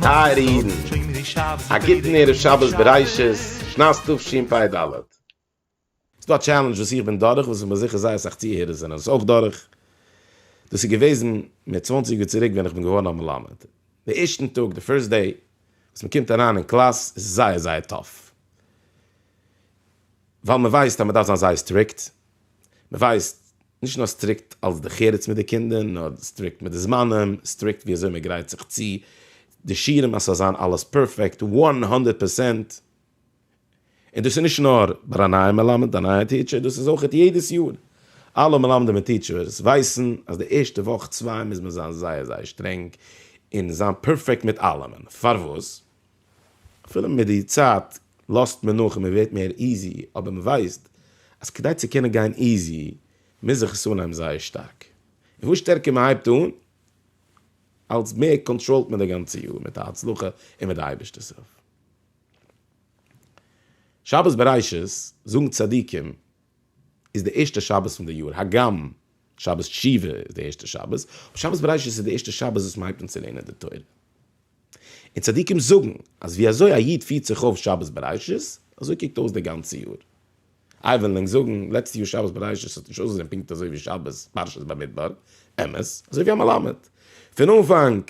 טייערע אידן, א גוטן ערב שבת בראשית שנת תשפ ד. ס'איז דא א טשעלענדזש וואס איך בין דורך, וואס איך בין זיכער זייער אסאך צוהערער זענען עס אויך דורך, דאס איז געוועזן מיט צוואנציג יאר צוריק ווען איך בין געווארן א מלמד, די ערשטן טאג, די פירסט דעי, וואס מען קומט אריין אין קלאס איז זייער זייער טאף, ווייל מען ווייסט אז מען דארף זיין זייער סטריקט, מען ווייסט, נישט נאר סטריקט אלס די חרץ מיט די קינדער, נאר סטריקט מיט די זמנים, סטריקט ווי אזוי מען גרייט זיך צו, די שיעורים אז ס'זאל זיין אלעס פערפעקט, וואן הונדערט פערסענט. און דאס איז נישט נאר ביי א נייע מלמד, א נייע טיטשער, דאס איז אויכעט יעדעס יאר. אלע מלמדים און טיטשערס ווייסן אז די ערשטע וואך צוויי מוז מען זיין זייער זייער שטרענג און זיין פערפעקט מיט אלעמען. פארוואס? אפילו מיט די צייט לאזט מען נאך און מען ווערט מער איזי, אבער מען ווייסט אז כדי צו קענען גיין איזי מוז איך עס אנהייבן זייער שטארק. און וואס שטערקער מען הייבט אן, אלס מער קאנטראלט מען די גאנצע יאר מיט א הצלחה און מיט די אייבערשטער'ס הילף. שבת בראשית, זאגן צדיקים, איז די ערשטע שבת פון די יאר, הגם שבת תשובה איז די ערשטע שבת, אבער שבת בראשית איז די ערשטע שבת וואס מען הייבט אן צו לערנען די תורה. און צדיקים זאגן אז ווי אזוי א איד פירט זיך אויף שבת בראשית, אזוי קוקט אויס די גאנצע יאר. איי וועלן ענק זאגן, לעצטע יאר שבת בראשית האט נישט אויסגעזען פונקט אזוי ווי שבת פרשת במדבר, אמת, אזוי ווי א מלמד פון אנפאנג,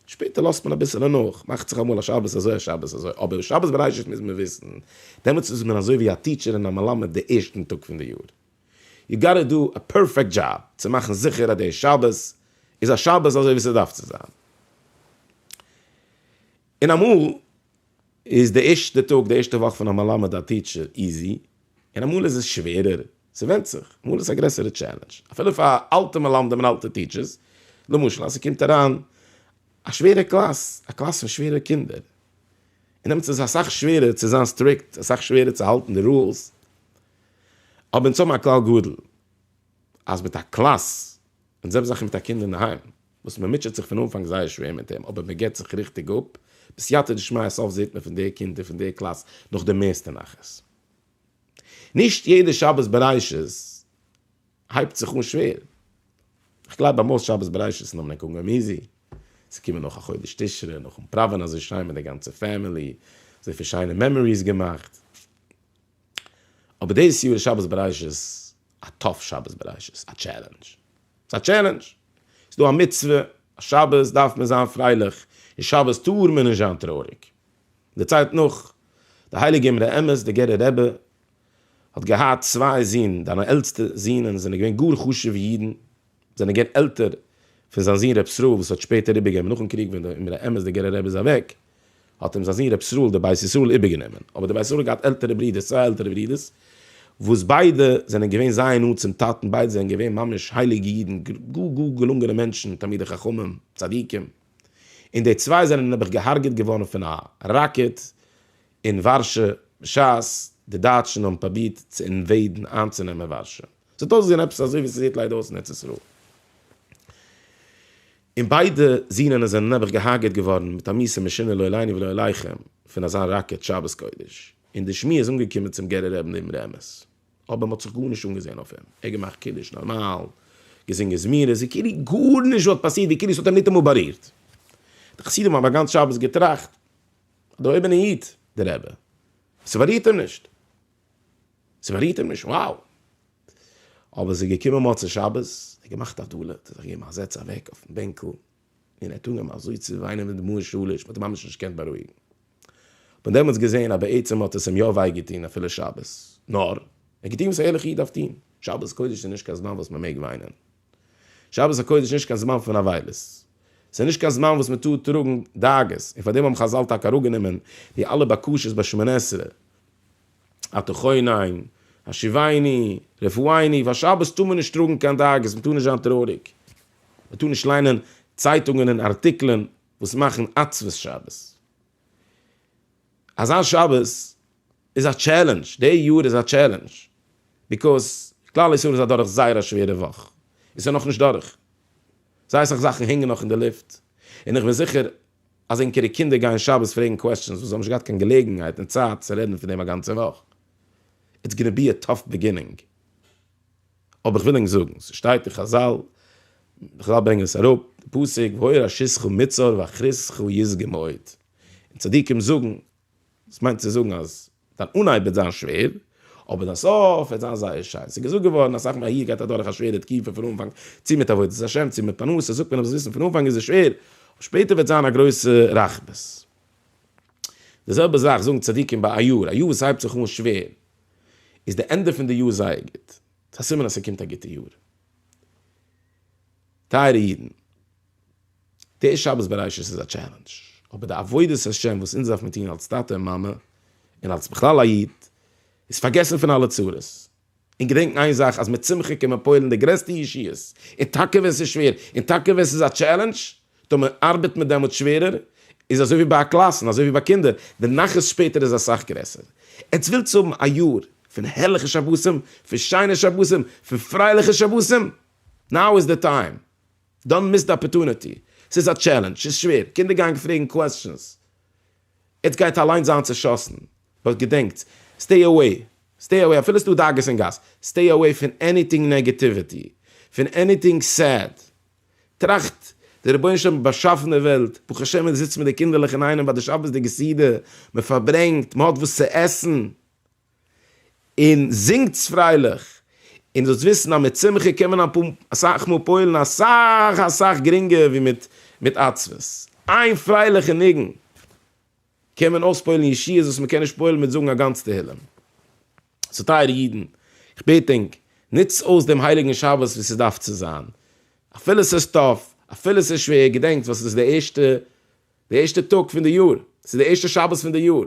שפעטער לאזט מען אביסעלע נאך, מאכט זיך אמאל א שבת אזוי א שבת אזוי, אבער שבת בראשית מוז מען וויסן, דעמאלטס איז מען אזוי ווי א טיטשער און א מלמד די ערשטן טאג פון די יאר, יו גאטע דא א פערפעקט דזשאב צו מאכן זיכער אז די שבת איז א שבת אזוי ווי ס'דארף צו זיין, און אמאל. איז די ערשטע טאג, די ערשטע וואך פון א מלמד, א טיטשער, איזי, און אמאל איז עס שווערער, ס'ווענדט זיך, אמאל איז עס א גרעסערע טשעלענדזש, אפילו פאר אלטע מלמדים און אלטע טיטשערס, למשל אז ס'קומט אריין א שווערע קלאס, א קלאס פון שווערע קינדער, און דעמאלטס איז אסאך שווערער צו זיין סטריקט, אסאך שווערער צו האלטן די רולס, אבער אונז האבן א כלל גדול, אז מיט א קלאס, אונז זעמיר זיכער מיט א קינד אינדערהיים. וואס מען מוטשעט זיך פון אנפאנג זייער שווער מיט אים אבער מען געבט זיך ריכטיג אפ, בסייעתא דשמיא סוף זעט מען פון די קינדער פון די קלאס נאך די מערסטע נחת. נישט יעדע שבת בראשית הייבט זיך אן שווער, כ'גלייב ביי מאס שבת בראשית'ן האבן ענק אנגעהויבן איזי, ס'איז געקומען נאך א חודש תשרי נאכן פראווען אזוי שיין מיט די גאנצע פעמילי, אזויפיל שיינע מעמאריס געמאכט. אבער דאס יאר איז שבת בראשית א טאף שבת בראשית, א טשעלענדזש, ס'איז א טשעלענדזש, ס'איז דא א מצוה, אז שבת דארף מען זיין פרייליך, און שבת טאר מען נישט זיין טרויעריג. דערציילט נאך די הייליגע אמרי אמת, דער גערער רבי האט געהאט צוויי זין, זיינע עלטסטע זין זענען געווען גאר חשוב'ע אידן, זענען געווען עלטער פון זיין זון ר' ישראל וואס האט שפעטער איבערגענומען נאכן קריג ווען דער אמרי אמת דער גערער רבי איז אוועק האט אים זיין זון ר' ישראל דער בית ישראל איבערגענומען אבער דער בית ישראל האט געהאט עלטערע ברודערס צוויי עלטערע ברודערס וואס ביידע זענען געווען זייער נאנט צום טאטן ביידע זענען געווען ממש הייליגע אידן גאר גאר געלונגענע מענטשן תלמידי חכמים צדיקים און די צוויי זענען נעבעך געהארגעט געווארן פון א ראקעט אין ווארשע בשעת די דייטשן האבן פרובירט צו אינוועידן איינצונעמען ווארשע. ס'האט אויסגעזען עפעס אזוי ווי ס'זעט ליידער אויס אין ארץ ישראל. און ביידע זינענער זענען נעבעך געהארגעט געווארן מיט א מיסע משונה לא עליני ולא עליכם פון אזא ראקעט שבת קודש. און די שמועה איז אנגעקומען צום גערער רעב נעבן רעמעס. אבער מ'האט זיך גארנישט אנגעזען אויף אים. ער האט געמאכט קידוש נארמאל, געזינגען זמירות ווי כאילו גארנישט וואלט פאסירט, ווי כאילו ס'האט אים ניטאמאל בארירט. די חסידים האבן א גאנץ שבת געטראכט, א דערהויבענע איד די רבי, ס'בארירט אים נישט. ס'בארירט אים נישט, wow! אבער ס'איז געקומען מוצאי שבת, ער האט געמאכט א דולה, ער האט זיך געגעבן א זעץ אוועק אויפן בענקל, און ער האט אנגעהויבן אזוי צו וויינען מיט דמעות שליש, מ'האט אים ממש נישט געקענט בארואיגן. כ'בין דעמאלטס געזען אז בעצם האט עס אים יא וויי געטון אפילו שבת, נאר, ער האט געטון וואס א ערליכע איד דארף טון. שבת קודש איז נישט קיין זמן וואס מ'מעג וויינען. שבת הקודש איז נישט קיין זמן פון אבילות. ס'איז נישט קיין זמן וואס מ'טאר טראגן דאגות, און פארדעם האבן חזל טאקע אראפגענומען די אלע בקשות ביי שמונה עשרה, אתה חונן, השיבני, רפאיני, פאר שבת טאר מען נישט טראגן קיין דאגות, מען טאר נישט זיין טרויעריג, מען טאר נישט ליינען צייטונגען און ארטיקלען וואס מאכן עצבות שבת. אזא שבת איז א טשעלענדזש, די יאר איז א טשעלענדזש, ביקאוז כלל ישראל איז אדורך זייער א שווערע וואך, עס איז נאכנישט דורך, זייער אסאך זאכן הענגן נאך אין די לופט, און איך בין זיכער אז ענקערע קינדער גייען שבת פרעגן קוועסטשענס וואס זיי האבן נישט געהאט קיין געלעגנהייט און צייט צו רעדן פון דעם א גאנצע וואך. איטס גאנע בי א טאף ביגינינג. אבער כ'וויל ענק זאגן, ס'שטייט אין חזל, חזל ברענגען עס אראפ, די פסוק, והוי ראשיתך מצער ואחריתך ישגה מאוד. און צדיקים זאגן, דאס מיינט צו זאגן אז. דיין אנהייב וועט זיין שווער, אבער דיין סוף וועט זיין זייער שיין. ס'איז געזאגט געווארן אז סאך מאל א יוד גייט אדורך א שווערע תקופה פון אנפאנג, צו מיט עבודת השם צו מיט פרנסה, זאגט מען אז מ'זאל וויסן פון אנפאנג איז עס שווער, אבער שפעטער וועט זיין א גרויסע רחבות. די זעלבע זאך זאגן צדיקים ביי א יאר, א יאר וואס הייבט זיך אן שווער, איז די ענדע פון די יאר זייער גוט, ס'איז א סימן אז ס'קומט א גוטע יאר. טייערע אידן! די שבת בראשית איז א טשעלענדזש, אבער די עבודת השם וואס אונז דארף מען טון אלס טאטע און מאמע, און אלס בכלל א איד, איז פארגעסן פון אלע צרות, און געדענקן איין זאך אז מיט שמחה קען מען פועל'ן די גרעסטע ישועות, און טאקע ווען ס'איז שווער, און טאקע ווען ס'איז א טשעלענדזש, טאר מען ארבעטן מיט דעמאלטס שווערער, איז אזוי ווי ביי א קלאסן, אזוי ווי ביי קינדער, די נחת שפעטער איז אסאך גרעסער. עטס ווילטס האבן א יאר פון הערליכע שבתים, פון שיינע שבתים, פון פרייליכע שבתים? נאו איז די טיים! דאן מיסד אפערטוניטי. ס'איז א טשעלענדזש, ס'איז שווער, קינדער גייען פרעגן קוועסטשענס, עטס גייט אליינס זיין צעשאסן, באט געדענקטס, סטעי אוועי, סטעי אוועי, אפילו ס'דא דאגות אין גאס, סטעי אוועי פון עניטינג נעגעטיוויטי, פון עניטינג סעד, טראכט, דער רבונו של עולם האט באשאפן די וועלט, ברוך השם מ'זיצט מיט די קינדערלעך אינאיינעם ביי די שבת'דיגע סעודה, מ'פארברענגט, מ'האט וואס צו עסן. און זינגטס פרייליך, און זאלסט וויסן אז מיט שמחה קען מען אסאך מאל פועל'ן אסאך אסאך גרינגער ווי מיט מיט עצבות. איין פרייליכע ניגון קען מען אויספועל'ן ישועות וואס מען קען נישט פועל'ן מיט זאגן א גאנץ תהילים. סאו טייערע אידן, איך בעט ענק, נוצטס אויס דעם הייליגן שבת ווי ס'דארף צו זיין. אפילו ס'איז טאף, אפילו ס'איז שווער, געדענקטס וואס איז די ערשטע די ערשטע טאג פון די יאר, ס'איז די ערשטע שבת פון די יאר,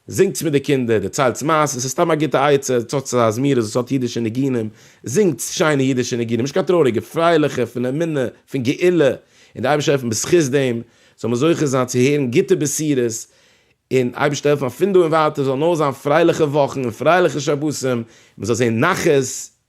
זינגטס מיט די קינדער, דערציילטס מעשה'ס, ס'איז סתם א גוטע עצה, זאגטס אזא זמירות וואס האט אידישע ניגונים, זינגטס שיינע אידישע ניגונים, נישט קיין טרויעריגע, פרייליכע, פון אמונה, פון גאולה, און די אייבערשטער העלפן בזכות דעם זאל מען זוכה זיין צו הערן גוטע בשורות, און אייבערשטער העלפן אז פון דא און ווייטער זאלן נאר זיין פרייליכע וואכן און פרייליכע שבתים, מען זאל זען נחת און